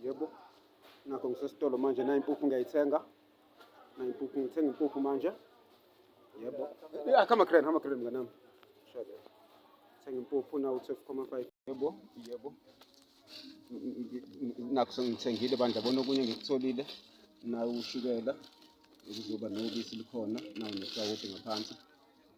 Yebo, nakho ngisesitolo manje, nayo impuphu ngiyayithenga, nayo impuphu ngithenga impuphu manje. Yebo, ya kama kren, kama kren mnganami, shade thenga impuphu nawo 12,5. Yebo, yebo, nakho sengithengile bandla, bona okunye ngikutholile, nawo ushukela, kuzoba nobisi likhona, nawo nesawoti ngaphansi.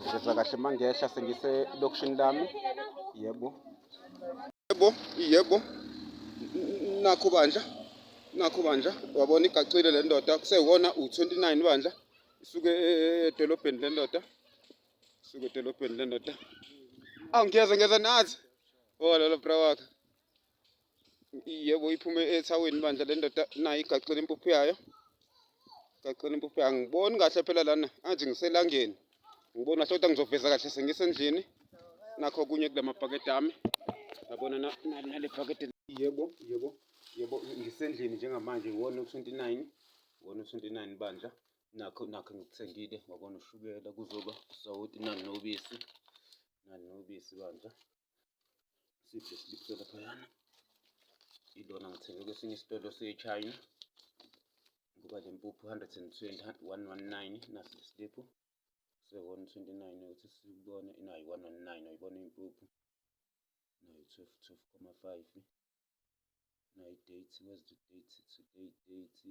Ngizwa kahle mangehla sengise lokishini lami. Yebo. Yebo, yebo. Nakho bandla. Nakho bandla. Wabona igacile le ndoda kusewona u29 bandla. Isuke e, e, e, edolobheni le ndoda. Isuke edolobheni le ndoda. Awu ngiyeza ngiyeza nathi. Oh lolo bra wakhe. yebo iphume ethaweni bandla le ndoda nayo igaxile impuphu yayo igaxile impuphu yayo angiboni kahle phela lana angathi ngiselangeni ngibona kahle kodwa ngizoveza kahle sengisendlini nakho okunye kula mabhakede ami yabona nale bhakede yebo yebo yebo ngisendlini njengamanje wona u-29 wona u-29 bandla nakho nakho ngikuthengile wabona ushukela kuzoba usawoti nani nobisi nani nobisi bandla siphe siliphe laphayana ilona ngithenge kwesinye isitolo sechina ngoba le mpuphu 120 119 nasi lesiliphu se-129 ukuthi sibone inayo 119 ayibona impuphu nayo 12 12,5 nayo date where's the date today date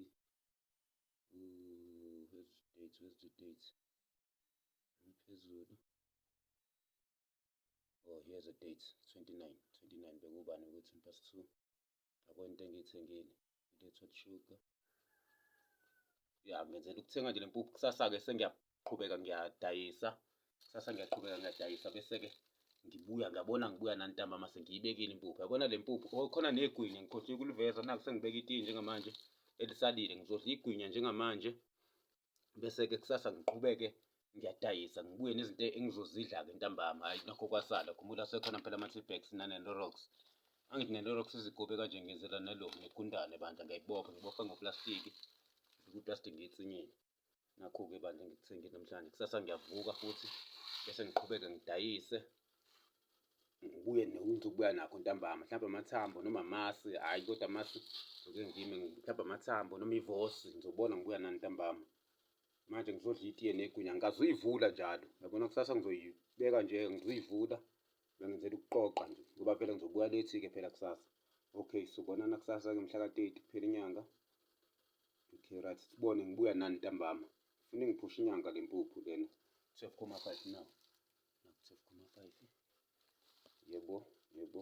Ooh, where's the date where's the date phezulu oh here's a date 29 29 bekubani ukuthi impast 2 yabo into engiyithengile into ethwa sugar ya ngenzela ukuthenga nje lempuphu kusasa-ke sengiyaqhubeka ngiyadayisa kusasa ngiyaqhubeka ngiyadayisa bese-ke ngibuya ngiyabona ngibuya nantamba mase ngiyibekile impuphu yabona le mpuphu oh, khona negwinya ngikhohlwe kuliveza naku sengibeka itiye njengamanje elisalile ngizodla igwinya njengamanje bese-ke kusasa ngiqhubeke ngiyadayisa ngibuye nezinto engizozidla-ke ntambama hhayi nakho kwasala khumbula sekhona phela ama-tbax nanenorox angithi nenorox izigubhe kanje ngiyenzela nalo ngigundane bandla ngiyayibopha ngibopha ngoplastiki kuplastiki ngiyitsinyile nakho-ke bandla ngikuthengile namhlanje kusasa ngiyavuka futhi bese ngiqhubeke ngidayise kuye nokubuya nakho ntambama mhlawumbe amathambo noma amasi hhayi kodwa amasi ngike ngime mhlawumbe amathambo noma ivosi ngizobona ngibuya nani ntambama manje ngizodla itiye negwinya ngikazuyivula njalo yabona kusasa ngizoyibeka nje ngizuyivula bengenzela ukuqoqa nje ngoba phela ngizobuya lethi-ke phela kusasa okay sobonana kusasa-ke mhlaka-thirty kuphela inyanga okay right sibone ngibuya nani ntambama funa ingiphusha inyanga le mpuphu lena twelve comma five now Nakuthola khona amapayipi. Yebo, yebo.